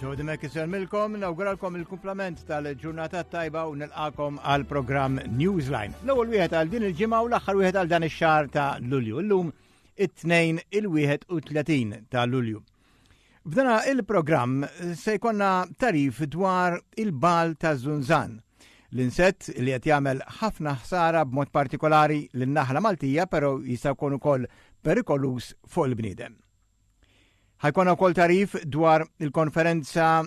Jodi Mekki selmilkom, nawguralkom il-kumplament tal-ġurnata tajba u nilqakom għal program Newsline. L-ewwel wieħed għal din il-ġimgħa u l-aħħar wieħed għal dan ix-xahar ta' Lulju. Illum it-tnejn il-31 ta' Lulju. F'dana il-programm se jkollna tarif dwar il-bal ta' Zunzan. L-insett li qed jagħmel ħafna ħsara b'mod partikolari lin-naħla Maltija però jista' jkun ukoll perikoluż fuq il-bniedem. Ħajkonna wkoll tarif dwar il-konferenza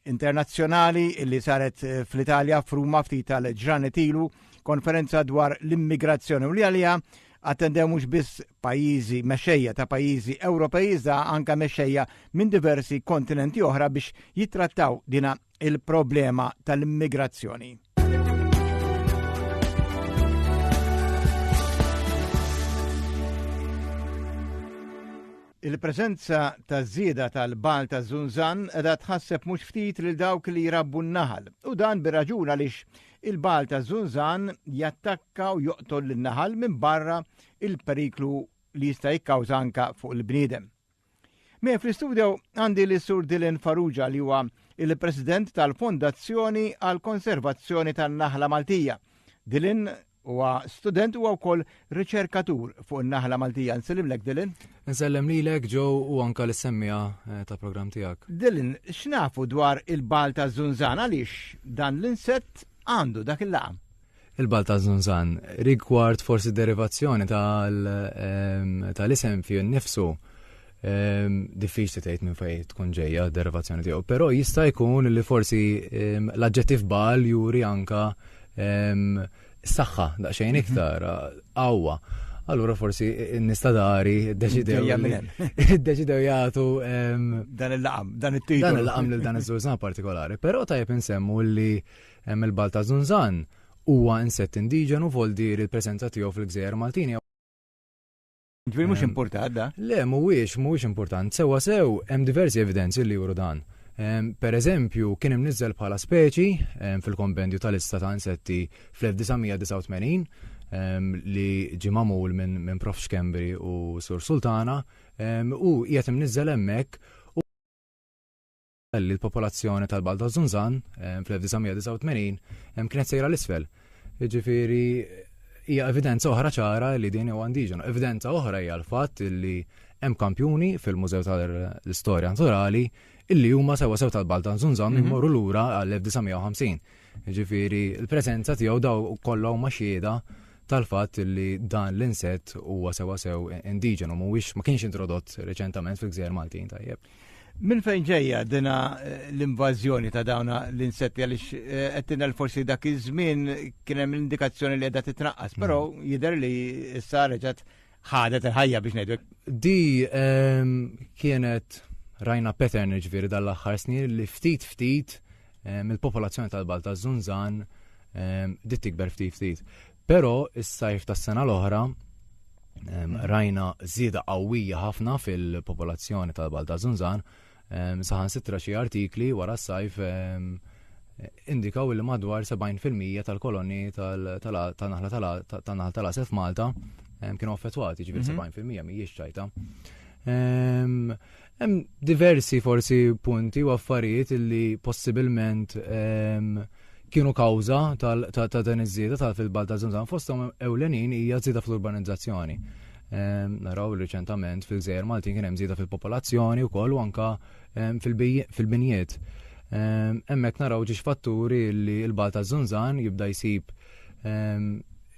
internazzjonali li saret eh, fl-Italja f'Ruma ftit tal-ġranet ilu konferenza dwar l-immigrazzjoni u li għalija attendew mhux biss pajjiżi mexxejja ta' pajjiżi Ewropej iżda anke mexxejja minn diversi kontinenti oħra biex jittrattaw dina il-problema tal-immigrazzjoni. Il-preżenza ta' żieda tal-bagħal taż-żunżan qiegħda tħasseb mhux ftit lil dawk li jrabbu n-naħal, u dan bir-raġun għaliex il-bagħal taż-żunżan jattakka u joqtol lin-naħal minbarra l-periklu li jista' jikkawża anke fuq il-bniedem. Miegħi fl-istudjo għandi lis Sur Dylan Farrugia li huwa il-President tal-Fondazzjoni għall-Konservazzjoni tan-Naħla Maltija. Dylan, Huwa student huwa wkoll riċerkatur fuq in-naħla Maltija. Nsellimlek Dylan. Insellem lilek Joe u anka l-semmija eh, ta' programm tiegħek. Dylan, x'nafu dwar il-bal ta' Zunzan għaliex dan l-insett għandu dak il-laqam? il-bal ta' Zunzan, rigward forsi derivazzjoni tal-isem ehm, fi nifsu Ehm, diffiċ li tgħid minn fejn tkun ġejja derivazzjoni tiegħu, però jista' jkun li forsi ehm, l-aġġettiv bal juri anka ehm, saħħa daqsxejn mhm. iktar qawwa. Allura forsi nista dari deċidew deċidew jagħtu dan il-laqam, dan it-titlu. Dan il-laqam lil dan iż-żużan partikolari, però tajjeb insemmu li hemm il-balta żunżan huwa insett indiġenu vol dir il-preżenza tiegħu fil-gżejjer Maltini Ġbir mhux importat da? Le, mhuwiex, mhuwiex important. Sewa sew, hemm diversi evidenzi li juru dan. Per eżempju, kien imniżżel bħala speċi fil-Kompendju tal-Lista ta' Insetti fl-1989 li ġie magħmul minn Prof. Schembri u Sur Sultana u qiegħed imniżżel hemmhekk li l-popolazzjoni tal-Balt ta' Zunzan fl-1989 kienet sejra l-isfel. Ġifiri, hija evidenza oħra ċara li din huwa indiġena. Evidenza oħra hija l-fatt li hemm kampjuni fil-Mużew tal-Istorja Naturali illi huma sewa sew tal-Balt ta' Zunzan minn mhm. morru lura għall-1950. Ġifiri, l-preżenza tiegħu daw kollha huma xieda tal-fatt li dan l-insett huwa sewa sew indiġenu mhuwiex ma kienx introdott reċentament fil-gżejjer Maltin tajjeb. Minn fejn ġejja dina eh, l-invażjoni ta' dawna l-insetti għaliex eh, qed tinel forsi dak iż-żmien kien hemm l-indikazzjoni li qiegħda titnaqqas, però mm. jidher li issa reġgħet ħadet il-ħajja biex ngħidu. Di ehm, kienet rajna pattern ġviri dal-aħħar snin li ftit ftit ehm, il-popolazzjoni tal-Balta Zunzan ehm, dit tikber ftit ftit. Però is-sajf tas-sena l-oħra rajna żieda qawwija ħafna fil-popolazzjoni tal-Balta Zunzan, saħan sitra xi artikli wara s-sajf indikaw li madwar 70% tal-koloni tal-naħla tal-asel f'Malta kienu affettwati, ġifieri 70% mhm. mhijiex ċajta. Hemm diversi forsi punti u affarijiet li possibilment ehm, kienu kawża ta' dan iż-żieda ta' fil-balt ta' Zamzam fosthom ewlenin hija żieda fl-urbanizzazzjoni. Ehm, naraw riċentament fil-gżejjer Maltin kien hemm żieda fil-popolazzjoni wkoll u anka ehm, fil-binjiet. Hemmhekk naraw ġiex fatturi li l-balt ta' Zunzan jibda jsib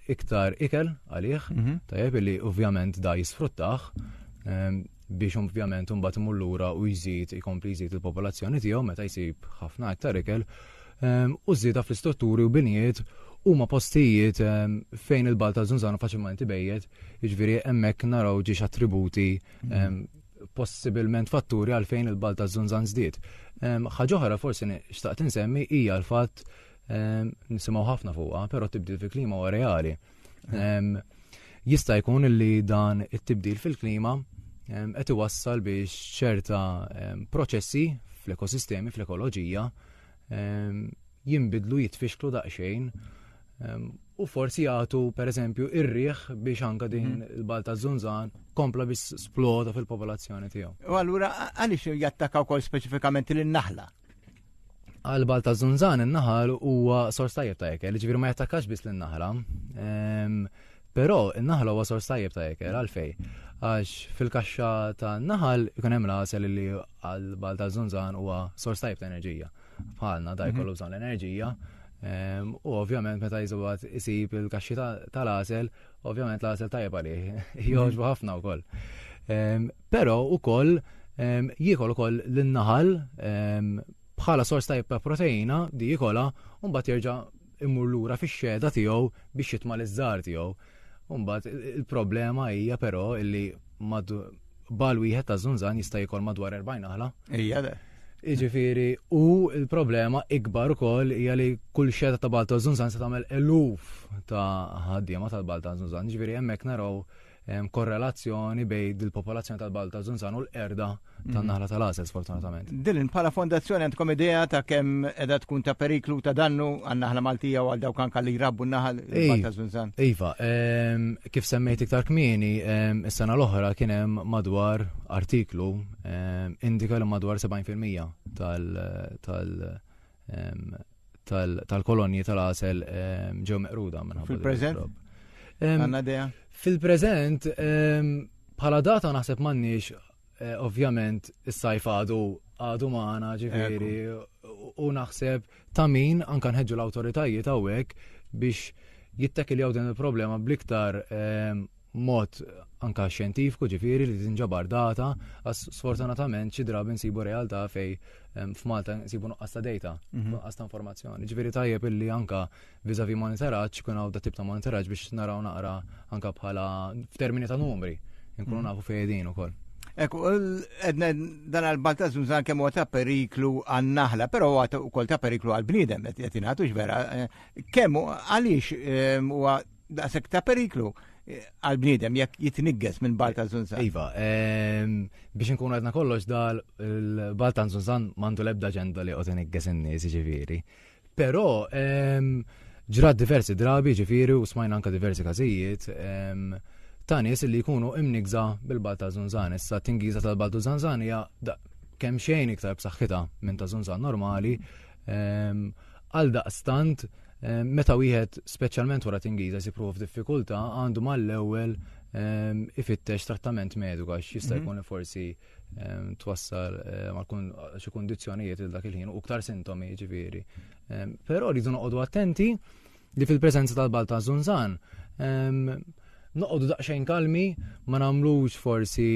iktar ikel għalih, mhm. tajjeb li ovvjament da jisfruttaħ biex ovvjament imbagħad imur lura u jżid ikompli jżid il-popolazzjoni tiegħu meta jsib ħafna iktar ikel ehm, u żieda fl-istrutturi u binjiet huma postijiet ehm, fejn il-bal ta' Zunzano faċilment ibejjed, jiġifieri hemmhekk naraw ġiex attributi ehm, possibilment fatturi għalfejn il-bal ta' Zunzan żdied. Ħaġa oħra forsi xtaqt insemmi hija l-fatt nisimgħu ħafna fuqha, però tibdil fil-klima huwa reali. Jista' jkun li dan it-tibdil fil-klima qed iwassal biex ċerta proċessi fl-ekosistemi, fl-ekoloġija, jimbidlu jitfixklu daqsxejn u forsi jagħtu pereżempju ir-riħ biex anka din mhm. il-balta żunżan kompla biex sploda fil-popolazzjoni tiegħu. U allura għaliex jattakaw kol speċifikament lin-naħla? għal-bal ta' zunzan in-naħal huwa sors tajjeb ta' ekel, ġifieri ma jattakax biss lin-naħla. Ehm, però in-naħla huwa sors tajjeb ta' ekel għalfej. Għax fil-kaxxa ta' naħal ikun hemm l-għasel li għal-bal ta' zunzan huwa sors tajjeb ta' enerġija. Bħalna da mhm. jkollu bżonn l-enerġija. Ehm, u ovvjament meta jiżgħat isib il-kaxxi tal-għasel Ovvjament l-għażel tajjeb għalih, jogħġbu ħafna wkoll. Però wkoll jiekol ukoll l-naħal bħala sors ta' ta' proteina di jikola un bat jerġa' immur lura fix-xeda tiegħu biex jitma' l-iżżar tiegħu. Umbat il-problema hija però illi bal wieħed ta' zunzan jista' jikol madwar 40 aħla. Ija le. Iġifiri, u il-problema ikbar ukoll hija li kull xeda ta' balta zunzan se tagħmel eluf ta' ħaddiema tal-balta zunzan. Iġifiri, hemmhekk naraw korrelazzjoni bej dil-popolazzjoni tal-balta zunzan u l-erda tan-naħla mhm. tal-għażel sfortunatament. Dilin, bħala fondazzjoni għandkom idea ta' kemm edha tkun ta' periklu ta' dannu għan-naħla Maltija u għal dawk anka li jrabbu n-naħal balta zunzan? Iva, Kif semmejt iktar kmieni, is-sena l-oħra kien hemm madwar artiklu indika li madwar 70% tal-kolonji tal-għasel ġew meqruda minn Fil-preżent? Għanna dea? Fil-preżent, bħala data naħseb m'għandniex Eh, ovvjament, is-sajf għadu għadu maħna ġifiri u naħseb ta' min anka nħedġu l-autoritajiet għawek biex jittakil jaw din il-problema bliktar eh, mod anka xjentifku ġifiri li tinġabar data, għas sfortunatament xi drabi nsibu realtà fej eh, f'Malta nsibu nuqqas ta' data, mhm. nuqqas ta' informazzjoni. Ġifiri tajjeb illi anka Vis-à-vis monitoraġġ, ikun hawn tip ta' monitoraġġ biex naraw naqra anke bħala f'termini ta' numri, inkunu mm. nafu fejedin ukoll. Ekku, edna dan għal-balta zunzan kemm huwa ta' periklu għan-naħla, però huwa wkoll ta' periklu għal-bniedem qed jingħatux vera. Eh, kemm għaliex eh, huwa daqshekk ta' periklu eh, għal-bniedem jekk jitnigges minn balta zunzan. Iva, ehm, biex nkun għadna kollox dal il-balta zunzan mandu lebda ġenda li qod inigges in-nies ġifieri. Però ehm, ġrat diversi drabi ġifiri u smajna anka diversi każijiet ehm, ta' nies li jkunu imnigza bil-bal ta' zunzan. Issa tingiza tal-bal ta' zunzan hija kemm xejn iktar b'saħħitha minn ta' zunzan normali. Ehm, għal daqstant, ehm, meta wieħed speċjalment wara tingiza jsibruħu f'diffikultà għandu mal-ewwel ehm, ifittex trattament mediku għax jista' mhm. jkun forsi twassal xi kundizzjonijiet il dak il-ħin u ktar sintomi ġifieri. Però rridu noqogħdu attenti li fil-preżenza tal-balta zunzan noqogħdu daqsxejn kalmi ma nagħmlux forsi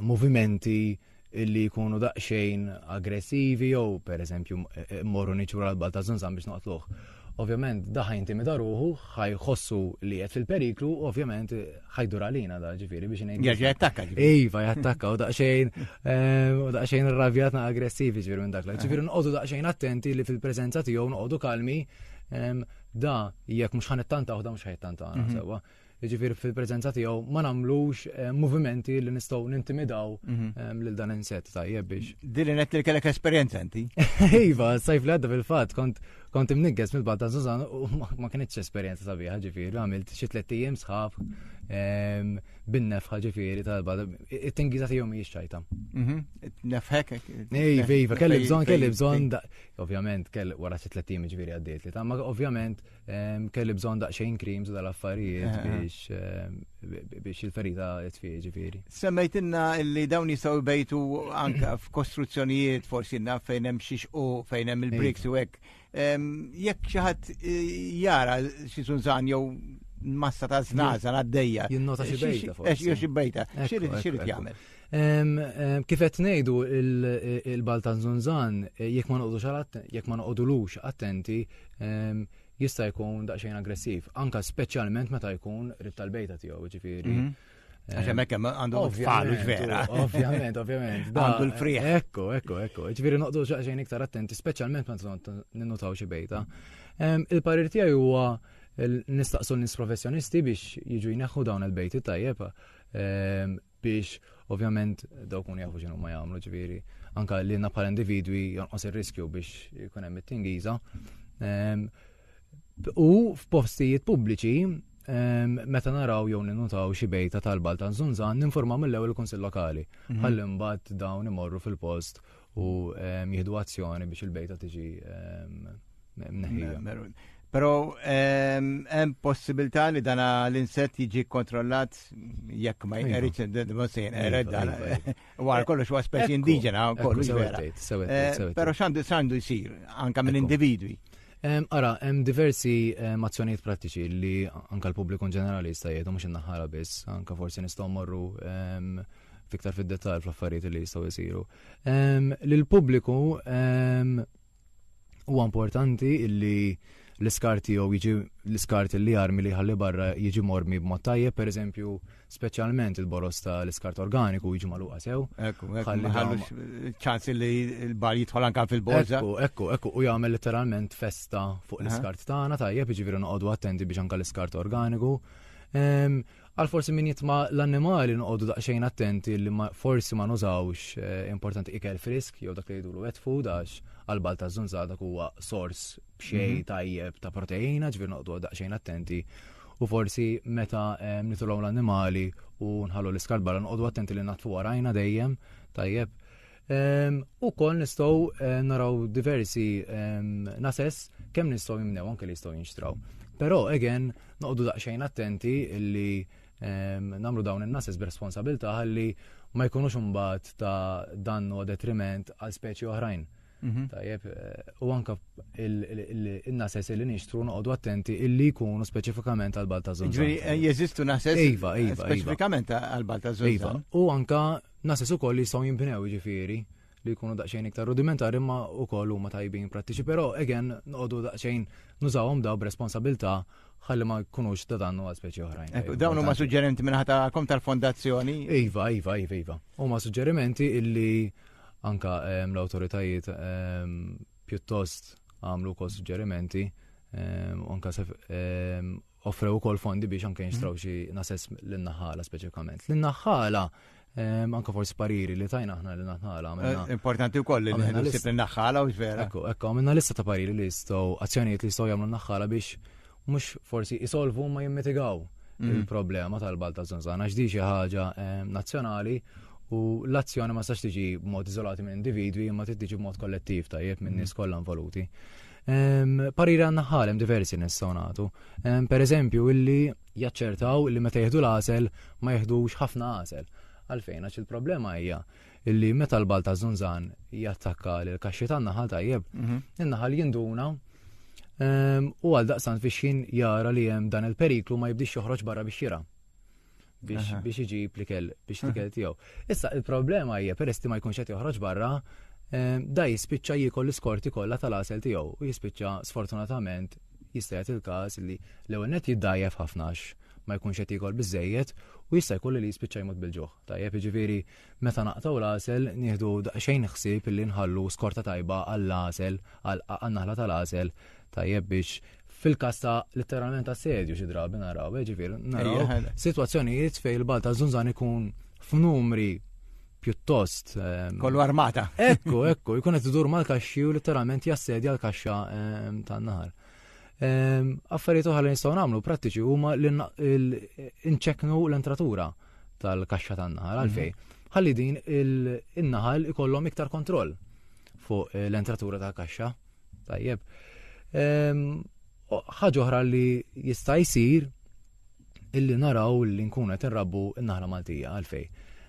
movimenti illi jkunu daqsxejn aggressivi jew pereżempju e, e, morru niċu l-balta zunzan biex noqtluh. Ovvjament da' ħa jintimida ruħu, ħa jħossu li qiegħed fil-periklu, u ovvjament ħa jdur għalina da' ġifieri biex ngħin. Jerġa' jattakka ġifieri. Iva, jattakka u daqsxejn ehm, u daqsxejn irravjat na' aggressivi ġifieri minn dak. Ġifieri nqogħdu daqsxejn attenti li fil-preżenza tiegħu noqogħdu kalmi ehm, da jekk mhux ħanittanta u da mhux ħajtanta mhm. sewwa. jiġifieri fil-preżenza tiegħu ma nagħmlux eh, movimenti li nistgħu nintimidaw mhm. eh, lil dan insett tajjeb biex. Dili net li kellek esperjenza inti. Iva, sajf li għadda fil-fatt kont kont imnigges mill-bad ta' Susan u ma kienitx esperjenza sabiħa ġifieri, għamilt xi tliet ijiem sħab ehm, binnef ħaġifieri tal-bad. It-tingiża tiegħu mhijiex ċajta. Mhm. Nefħek. Iva, iva, kelli bżonn, kelli bżonn, ovvjament, kelli wara xi tliet ijiem ġifieri għaddiet li ta' ma ovvjament Kelli bżon daqxejn krims dal-affarijiet eh, eh. biex eh, biex il-ferita tfieġi ġifiri. Semmejt inna li dawn jistaw bejtu anka f'kostruzzjonijiet forsi inna fejn hemm xiex u fejn hemm il-briks u hekk. Jekk xi ħadd jara xi sunżan jew massa ta' znaza għaddejja. Jinnota xi bejta. Xi bejta. Xi jagħmel. Kif qed ngħidu il-Baltan Zunzan, eh, jekk ma noqgħodux jekk ma noqogħdulux attenti, jista' jkun daqsxejn aggressiv, anka speċjalment meta jkun rib tal-bejta tiegħu, ġifieri. Mhm. Għaxem ekk għandu falu vera. Ovvjament, ovvjament. Għandu l-friħ. Ekku, ekku, ekku. Ġifieri noqdu xaqxejn iktar attenti, speċjalment meta ninnutaw xi bejta. Il-parir tiegħi huwa nistaqsu nis professjonisti biex jiġu jneħħu dawn il-bejti tajjeb biex ovvjament daw kun jafu xinu ma jagħmlu ġifieri anka li na bħala individwi jonqos ir-riskju biex ikun hemm it-tingiża. Ehm, u f'postijiet pubbliċi ehm, meta naraw jew ninutaw xi bejta tal-bal ta' Zunzan ninformaw mill-ewwel il-Kunsill Lokali. Mhm. Ħalli mbagħad dawn imorru fil-post u ehm, jihdu azzjoni biex il-bejta tiġi ehm, mneħħija. Pero ehm, hemm possibilità li dana l-insett jiġi kontrollat jekk ma iva. jqeridx id-dmosin, ered dan. Iva, iva. Wara kollox huwa speċi indiġena kollox vera. Eh, Però x'għandu x'għandu jsir anke minn individwi. Ehm, ara, hemm diversi ehm, azzjonijiet prattiċi li anke l-pubbliku ġenerali jista' jgħidu mhux innaħħara biss, anke forsi nistgħu morru ehm, fiktar fid-dettall fl-affarijiet li jistgħu jsiru. Ehm, Lill-pubbliku ehm, huwa importanti illi l-iskart jew jiġi l-iskart li armi li ħalli barra jiġi mormi b'mod tajjeb, per eżempju, speċjalment il-boros ta' l-iskart organiku jiġi maluqa sew. Ekku, ekku, ċans li l-bar jitħol anka fil-borza. Ekku, ekku, ekku, u jagħmel letteralment festa fuq l-iskart tagħna tajjeb, jiġifieri noqogħdu attenti biex anka l-iskart organiku. Ehm, Għal forsi min jitma l-annimali noqogħdu daqsxejn attenti li forsi ma nużawx eh, importanti ikel frisk jew dak li jgħidulu wet food għax għal bal ta' żunżada huwa sors b'xejn mhm. tajjeb ta' proteina ġvir noqogħdu daqsxejn attenti u forsi meta eh, nitulhom l-annimali u nħallu l-iskarbala noqogħdu attenti li natfu warajna dejjem tajjeb U kol nistaw naraw diversi nases kemm nistaw jimnew anke li jistaw jinxtraw. Pero, again, noqdu daqxajn attenti illi namlu dawn il-nases b'responsabilta għalli ma jkunux mbagħad ta' dannu detriment għal speċi oħrajn. Mhm. Tajjeb, eh, u anka il-nases li nixtru noqogħdu attenti illi jkunu speċifikament għal balta zon. Ġifieri eh, jeżistu nases iva, iva, iva. speċifikament għal balta zon. Iva, u anka Nases ukoll li jistgħu jinbnew jiġifieri li jkunu daqsxejn iktar rudimentari imma wkoll huma tajbin prattiċi, però again noqogħdu daqsxejn nużawhom daw b'responsabilità ħalli ma jkunux ta' dannu għal speċi oħrajn. Dawn huma suġġerimenti minn ħatakom tal-fondazzjoni? Iva, iva, iva, iva. Huma suġġerimenti illi anka ehm, l-awtoritajiet ehm, pjuttost għamlu kol suġġerimenti ehm, anka offrew ukoll fondi biex anke jinxtraw xi nasess l-naħala speċifikament. L-naħala Ehm, anka forsi pariri li tajna aħna li naħħala. Eh, importanti u koll li nisib li naħħala u vera. Ekku, ekku, għamilna lista ta' pariri li jistaw, azzjonijiet li jistaw jamlu naħħala biex mux forsi jisolvu ma jimmitigaw mm. il-problema tal-balt ta' zonzana, xdi xi ħaġa ehm, nazzjonali u l-azzjoni ma sax tiġi b'mod izolati minn individwi imma tiġi b'mod kollettiv tajjeb minn nies mm. kollha involuti. Pariri għanna ħalem diversi nistgħu nagħtu. Per eżempju, illi jaċċertaw li meta jieħdu l-għasel ma jieħdux ħafna għasel. Għalfejn, għax il-problema hija illi meta l-bal ta' zunzan jattakka l-kaxxi tan naħal tajjeb, mhm. in-naħal jinduna u għal daqsan fixin jara li hemm dan il-periklu ma jibdix joħroġ barra biex jira. biex biex iġib li kell biex li kell tiegħu. Issa il-problema hija peress ma jkunx qed joħroġ barra, eh, da jispiċċa jiekol l-iskorti kollha tal-asel tiegħu u jispiċċa sfortunatament jista' jagħti il-każ li l-ewwel net jiddajjef ħafnax ma jkunx qed jiekol biżejjed u jista' jkollu li jispiċċa jmut bil-ġuħ. Tajjeb jiġifieri Meta naqtgħu l-għasel, nieħdu daqsxejn ħsieb illi nħallu skorta tajba għall-għasel, għan-naħla tal-għasel, tajjeb biex fil-kas ta' letteralment assedju xi drabi naraw, eh, ġifier naraw sitwazzjonijiet fejn il-bal ta' żunżan ikun f'numri pjuttost. Ehm, Kollu armata. Ekku, ekku, jkun qed idur mal-kaxxi u letteralment jassedja l-kaxxa ehm, tan-nahar. Ehm, affarijiet oħra li nistgħu nagħmlu prattiċi huma li nċeknu l-entratura. tal-kaxxa tan-naħal għalfej. Mhm. Ħalli din il-naħal ikollhom iktar kontroll fuq eh, l-entratura tal-kaxxa. Tajjeb. Ehm, ħaġa oħra li jista' jsir illi naraw li nkunu qed inrabbu n-naħla Maltija għalfej.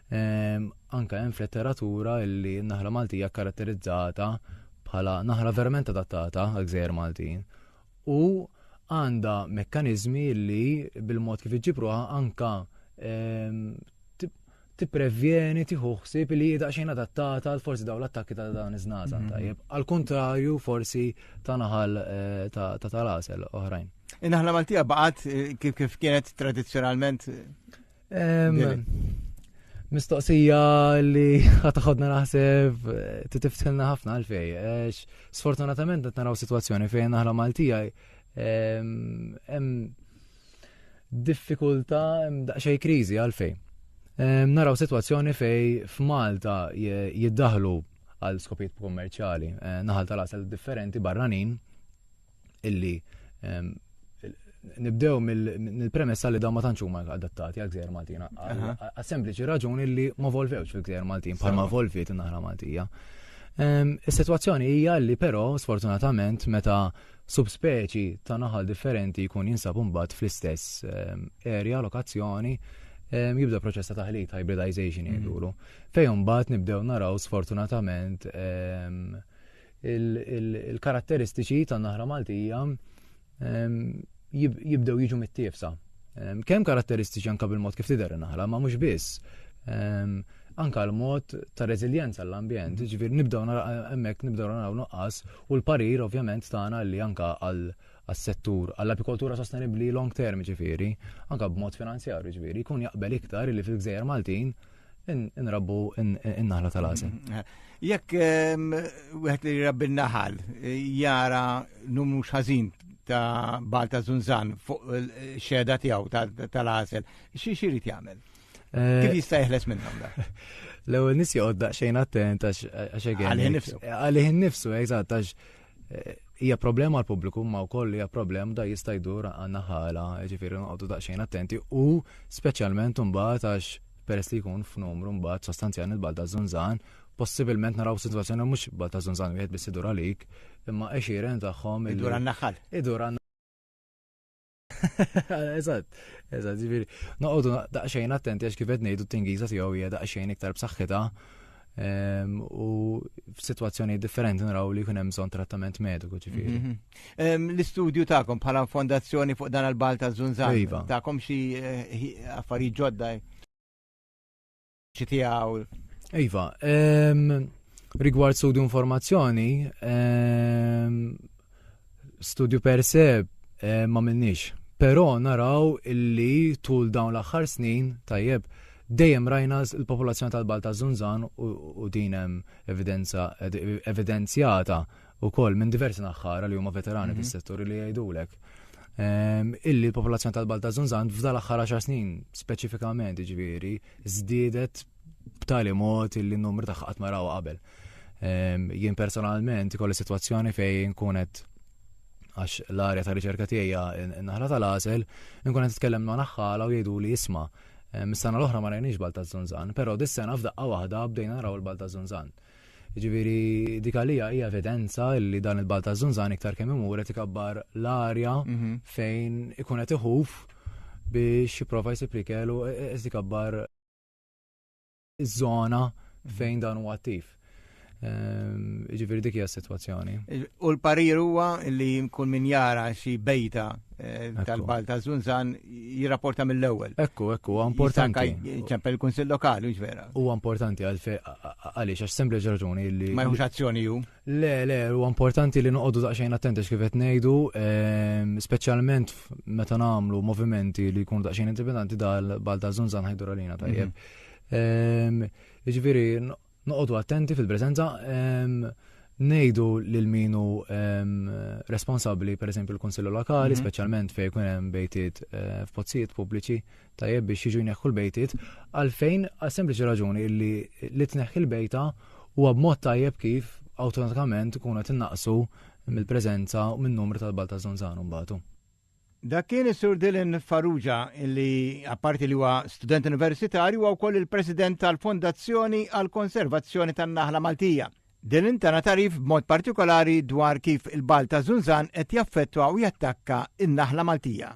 Ehm, anka hemm fl-letteratura illi n-naħla Maltija karatterizzata bħala naħla verament adattata għal gżejjer Maltin u għandha mekkaniżmi li bil-mod kif iġġibruha anka ehm, tipprevjeni tieħu ħsieb li hija xejn adattata għal forsi dawn l-attakki ta' dan iż-żnaza mhm. tajjeb. Al kontrarju forsi ta' naħal eh, ta' tal-asel oħrajn. Naħla Maltija baqgħet eh, kif kif kienet tradizzjonalment Mistoqsija li ħataħodna naħseb eh, titiftilna ħafna għalfej. Eh, sfortunatament qed naraw sitwazzjoni fejn aħna Maltija hemm diffikultà hemm daqsxejn kriżi għalfej. Naraw sitwazzjoni fej f'Malta jiddaħlu għal skopijiet kummerċjali eh, naħal tal-asel differenti barranin illi ehm, nibdew mill-premessa li daw ma tantx huma adattati għal gżejjer Maltin. Għal sempliċi raġuni li ma volvewx fil-gżejjer Maltin bħalma volviet in-naħra Maltija. Ehm, is-sitwazzjoni hija li però sfortunatament meta subspeċi ta' naħal differenti jkun jinsab mbagħad fl-istess ehm, area, lokazzjoni, ehm, jibda proċess ta' taħlit, hybridization mm. jgħidulu. Fejn mbagħad nibdew naraw sfortunatament ehm, il-karatteristiċi tan naħra Maltija ehm, jibdew jiġu mit-tiefsa. Ehm, kemm karatteristiċi anka bil-mod kif tidher naħra, ma mhux biss. Ehm, anka l-mod ta' reżiljenza l-ambjent, mm-hmm. ġifir nibdew hemmhekk nibdew naraw nuqqas u l-parir ovvjament tagħna li anka għal għas-settur għall-apikoltura sostenibbli long term ġifieri, anka b'mod finanzjarju ġifieri, jkun jaqbel iktar li fil-gżejjer Maltin Inrabbu in-naħla tal-għażel. Mm-hmm. Jekk ehm, wieħed li rabbi n-naħal eh, jara numru xażin ta' Balta Zunzan fuq eh, xeda tiegħu tal-għażel, xi xirid jagħmel? Eh, Kif jista' jeħles minnhom da? L-ewwel nies joqgħod daqsxejn attent għax għax għalih nifsu. Għalih nifsu, eżatt, għax Eh, hija problema għal pubbliku ma wkoll hija problema da jista' jdur għandna ħala, ġifieri noqogħdu daqsxejn attenti u speċjalment imbagħad għax peress li jkun f'numru mbagħad sostanzjali l-balda żunżan, possibilment naraw sitwazzjoni mhux balda żunżan wieħed biss idur għalik, imma għexieren tagħhom. Idur għan-naħal. Idur għan Eżatt, eżatt, ġifieri. Noqogħdu daqsxejn attenti għax kif qed ngħidu t-tingiża tiegħu hija daqsxejn iktar b'saħħitha ehm, u f'sitwazzjoni differenti naraw li jkun hemm bżonn trattament mediku ġifieri. Mhm. Ehm, l-istudju tagħkom bħala fondazzjoni fuq dan il-balta żunżan iva. tagħkom xi eh, affarijiet ġodda Ċitijaw. Iva, ehm, rigward studju informazzjoni, ehm, studju per se eh, ma minnix. Pero naraw illi tul dawn l-axħar snin, tajjeb, dejjem rajna l-popolazzjoni tal-Balta Zunzan u dinem evidenza evidenzjata ukoll minn diversi naħħara li huma veterani mhm. fis-settur li jgħidulek ehm, illi l-popolazzjoni tal-Balt ta' Zunzan f'dal aħħar 10 snin speċifikament ġifieri żdiedet b'tali mod illi n-numru ta' qatt ma qabel. Ehm, jien personalment ikolli sitwazzjoni fejn kunet għax l-arja ta' riċerka tiegħi naħla tal-għasel, nkun qed titkellem ma' naħħala u jgħidu li isma' ehm, mis-sena l-oħra ma rajniex Balta Zunzan, però dis-sena f'daqqa waħda bdejna naraw il-Balta Zunzan. Jiġifieri dik għalija hija evidenza li dan il-balt ta' żunżan iktar kemm imur qed ikabbar l-arja mhm. fejn ikun qed iħuf biex jipprova jsib li kellu e, e, qed ikabbar iż-żona mhm. fejn dan huwa attiv. Ehm, ġifiri dik hija s-sitwazzjoni. U l-parir huwa li kull min jara xi bejta Eh, tal-bal ta' Zunzan jirrapporta mill-ewwel. Ekku, ekku, importanti. ċempel il-Kunsill Lokali, mhux vera. Huwa importanti għaliex għax sempliċi raġuni li. Ma jħux azzjoni ju. Le, le, huwa importanti li noqogħdu daqsxejn attenti kif qed ngħidu, ehm, speċjalment meta nagħmlu movimenti li jkunu daqsxejn interpretanti dal-bal ta' Zunzan ħajdur għalina tajjeb. Mhm. Ehm, jiġifieri Noqogħdu attenti fil-preżenza ngħidu lil min hu responsabbli pereżempju l-Kunsillu Lokali, mhm. speċjalment fejn jkun hemm bejtiet eh, f'pozzijiet pubbliċi tajjeb biex jiġu jneħħu l-bejtiet għalfejn għal sempliċi raġuni li li tneħħi l-bejta huwa b'mod tajjeb kif awtomatikament ikunu qed innaqsu mill-preżenza u min numru tal-balta żonżan mbagħadu. Dak kien is-Sur Dylan Farrugia li apparti li huwa student universitarju huwa wkoll il-President tal-Fondazzjoni għall-Konservazzjoni tan-Naħla Maltija. Dylan tana tarif b'mod partikolari dwar kif il-ball ta' Zunzan qed jaffettwa u jattakka n-naħla Maltija.